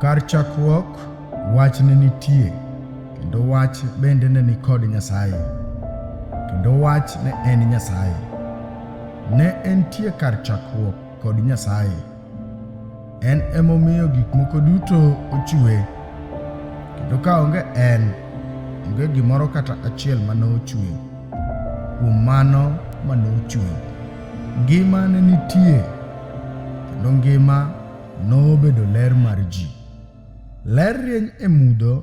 Kar chakruok, wach ne nitie, kendo wach bende ne ni kod Nyasaye, kendo wach ne en Nyasaye. Ne entie kar chakruok kod Nyasaye. En emomiyo gik moko duto ochue, kendo ka onge en, onge gimoro kata achiel ma ne ochue. Kuom mano ma ne ochue, ngima ne nitie. kendo ngima nobedo ler mar ji. Ler rieny e mudho,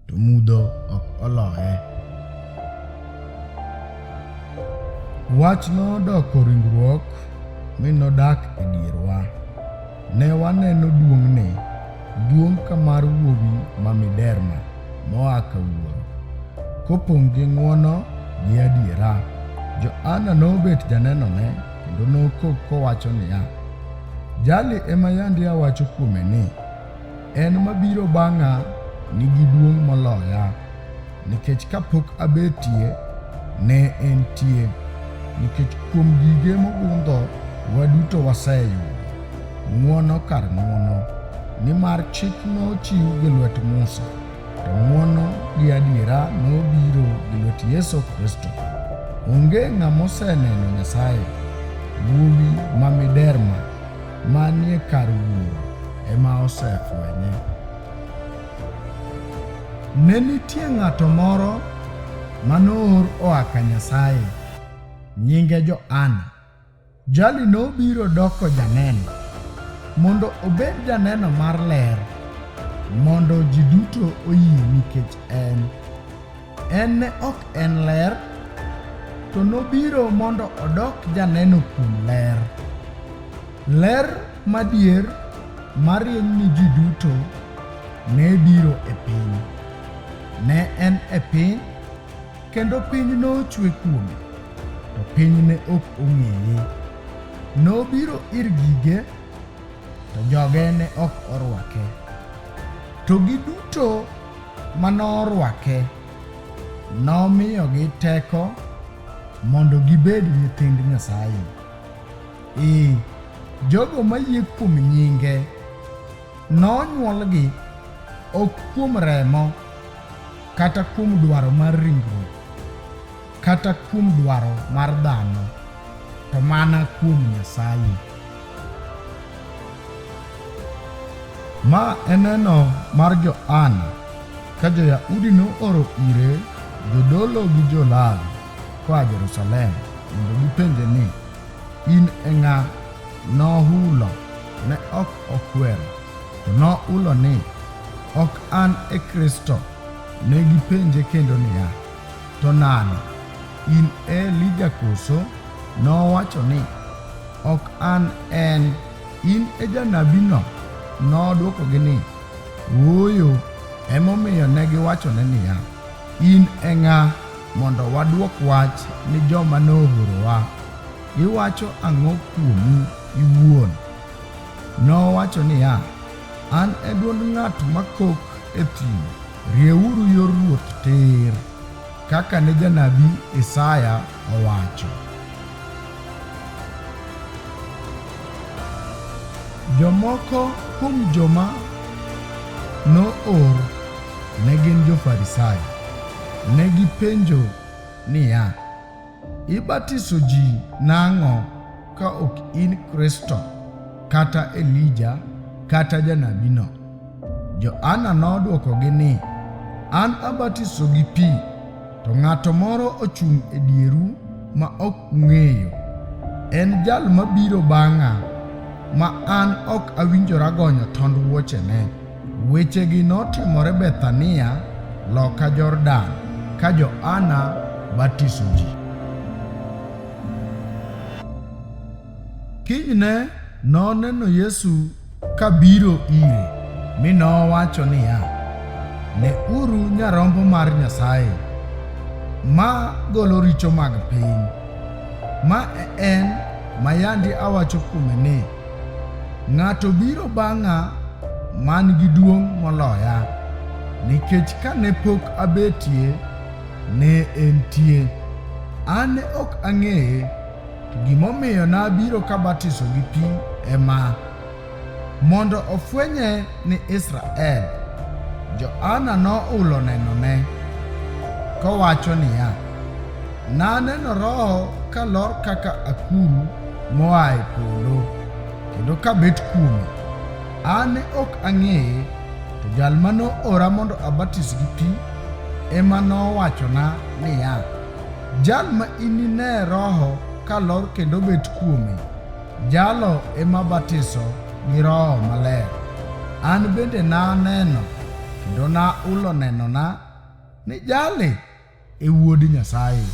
to mudho ok oloye. Wach nodoko ringruok mi nodak e dierwa. Ne waneno duong'ne, duong' ka mar wuowi ma miderma moa ka wuoro, kopong' gi ng'wono gi adiera. Johana nobet janenone kendo nokok kowacho niya, Jali ema yandi awacho kuome ni, en mabiro bang'a nigi duong' moloya, nikech kapok abetie ne entie, nikech kuom gige mogundho waduto waseyudo ng'wono kar ng'wono, nimar chik nochiw gi lwet Musa. to ng'wono gi adiera nobiro gi lwet Yesu Kristo. Onge ng'ama oseneno Nyasaye. Wuowi ma miderma manie kar Wuoro ema osefwenye. Ne nitie ng'ato moro manoor oa ka Nyasaye, nyinge Johana. Jali nobiro doko janeno mondo obed janeno mar ler mondo ji duto oyie nikech en. En ne ok en ler, to nobiro mondo odok janeno kuom ler. Ler madier marieny ni ji duto ne biro e piny. Ne en e piny Kendo piny nochwe kuome, to piny ne ok ong'eye. Nobiro ir gige, to joge ne ok orwake. To giduto ma norwake, nomiyogi teko mondo gibed nyithind Nyasaye. Ee, jogo mayie kuom nyinge nonyuolgi ok kuom remo kata kuom dwaro mar ringruok, kata kuom dwaro mar dhano, to mana kuom Nyasaye. Ma eneno mar Johana ka jo-Yahudi nooro ire jodolo gi jo-Lawi koa Jerusalem mondo gipenje ni, In e ng'a? Nohulo, ne ok okwero. Nohulo ni, Ok an e Kristo. Ne gipenje kendo niya, To nade? In e Elija koso? Nowacho ni, Ok an en. In e janabino? Nodwokogi ni, Ooyo. Emomiyo ne giwachone niya, In e ng'a mondo wadwok wach ni joma noorowa? Iwacho ang'o kuomi iwuon? Nowacho niya, An e dwond ng'at makok e thim, rieuru yor Ruoth tir, kaka ne janabi Isaya owacho. Jomoko kuom joma noor ne gin jo-Farisai. Ne gipenjo niya, Ibatiso ji nang'o ka ok in Kristo kata Elija kata janabino? Johana nodwokogi ni, An abatiso gi pi, to ng'ato moro ochung' e dieru ma ok ung'eyo. En jal mabiro bang'a, ma an ok awinjora gonyo tond wuochene. Wechegi notimore Bethania loka Jordan ka Johana batiso ji. Kinyne noneno Yesu ka biro ire, mi nowacho niya, Ne uru nyarombo mar Nyasaye, ma golo richo mag piny. Ma e en ma yandi awacho kuome ni, Ng'ato biro bang'a man gi duong' moloya, nikech ka ne pok abetie, ne entie. An ne ok ang'eye, to gimomiyo nabiro kabatiso gi pi ema, mondo ofwenye ni Israel. Johana nohulo nenone, kowacho niya, Naneno Roho ka lor kaka akuru moa e polo, kendo ka bet kuome. An ne ok ang'eye, to jal ma noora mondo abatis gi pi ema nowachona niya, Jal ma inine Roho ka lor kendo bet kuome, jalo ema batiso gi Roho Maler. An bende naneno kendo naulo nenona ni jali e Wuod Nyasaye.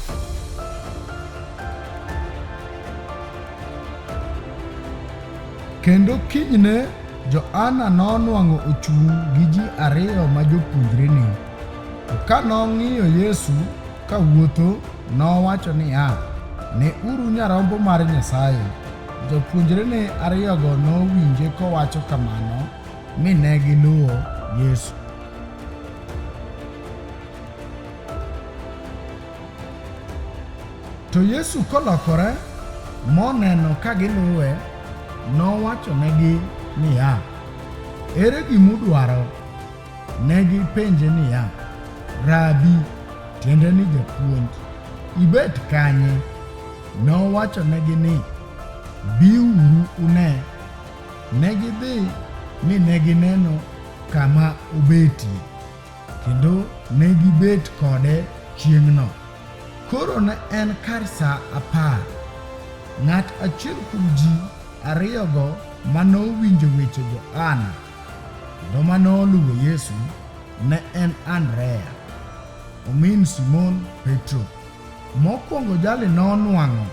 Kendo kinyne Johana nonwang'o ochung' gi ji ariyo ma jopuonjrene. To ka nong'iyo Yesu ka wuotho, nowacho niya, Ne uru nyarombo mar Nyasaye. Jopuonjrene ariyogo nowinje kowacho kamano, mi ne giluwo Yesu. To Yesu kolokore moneno ka giluwe, nowachonegi niya, Ere gimudwaro? Ne gipenje niya, Rabi, tiende ni japuonj, ibet kanye? Nowachonegi ni, Biuru une. Ne gidhi mi ne gineno kama obetie. Kendo ne gibet kode chieng'no. Koro ne en kar sa apar. Ng'at achiel kuom ji ariyogo ma nowinjo weche Johana kendo ma noluwo Yesu ne en Andrea, omin Simon Petro. Mokwongo jali nonwang'o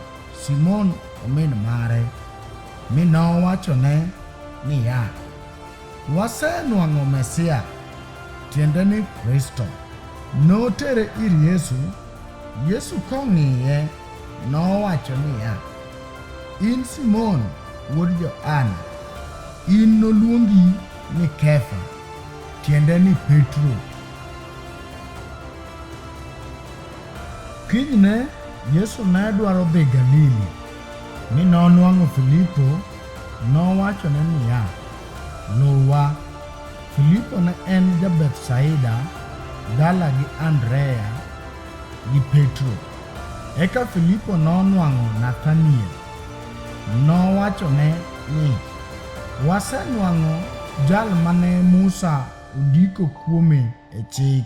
Simon omin mare, mi nowachone niya, Wasenwang'o Mesia, tiende ni Kristo. Notere ir Yesu, Yesu kong'iye nowacho niya, In Simon wuod Johana, in noluongi ni Kefa, tiende ni Petro. Kinyne Yesu ne dwaro dhi Galili. Mi nonwang'o Filipo, nowachone niya, Luwa. Filipo ne en ja-Bethsaida, dala gi Andrea gi Petro. Eka Filipo nonwang'o Nathaniel, nowachone ni, Wasenwang'o jal mane Musa ondiko kuome e Chik,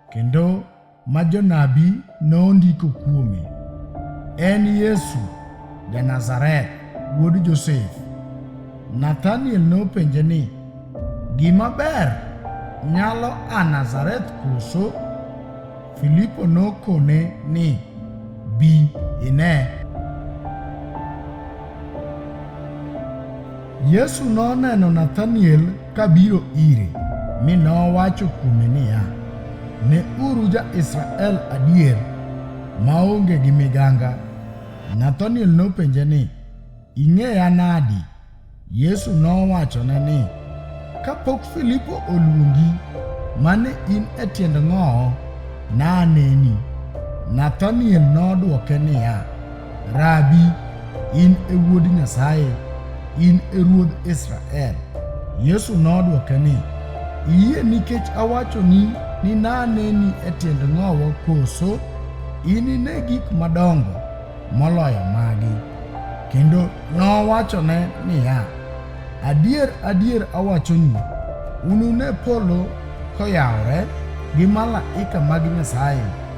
Kendo ma jonabi nondiko kuome, en Yesu ja-Nazareth, wuod Josef. Nathaniel nopenje ni, Gima ber nyalo a Nazareth koso? Filipo nokone ni, Bi ine. Yesu noneno Nathaniel kabiro ire, mi nowacho kuome niya, Ne uru ja-Israel adier maonge gi miganga. Nathaniel nopenje ni, Ing'eya nadi? Yesu nowachone ni, Kapok Filipo oluongi, mane in e tiend ng'owo, naneni. Nathaniel nodwoke niya, Rabi, in e wuod Nyasaye, in e ruodh Israel. Yesu nodwoke ni, Iyie nikech awachoni ni naneni e tiend ng'owo koso? Inine gik madongo moloyo magi. Kendo nowachone niya, Adier, adier awachoni, unune polo koyawore gi malaika mag Nyasaye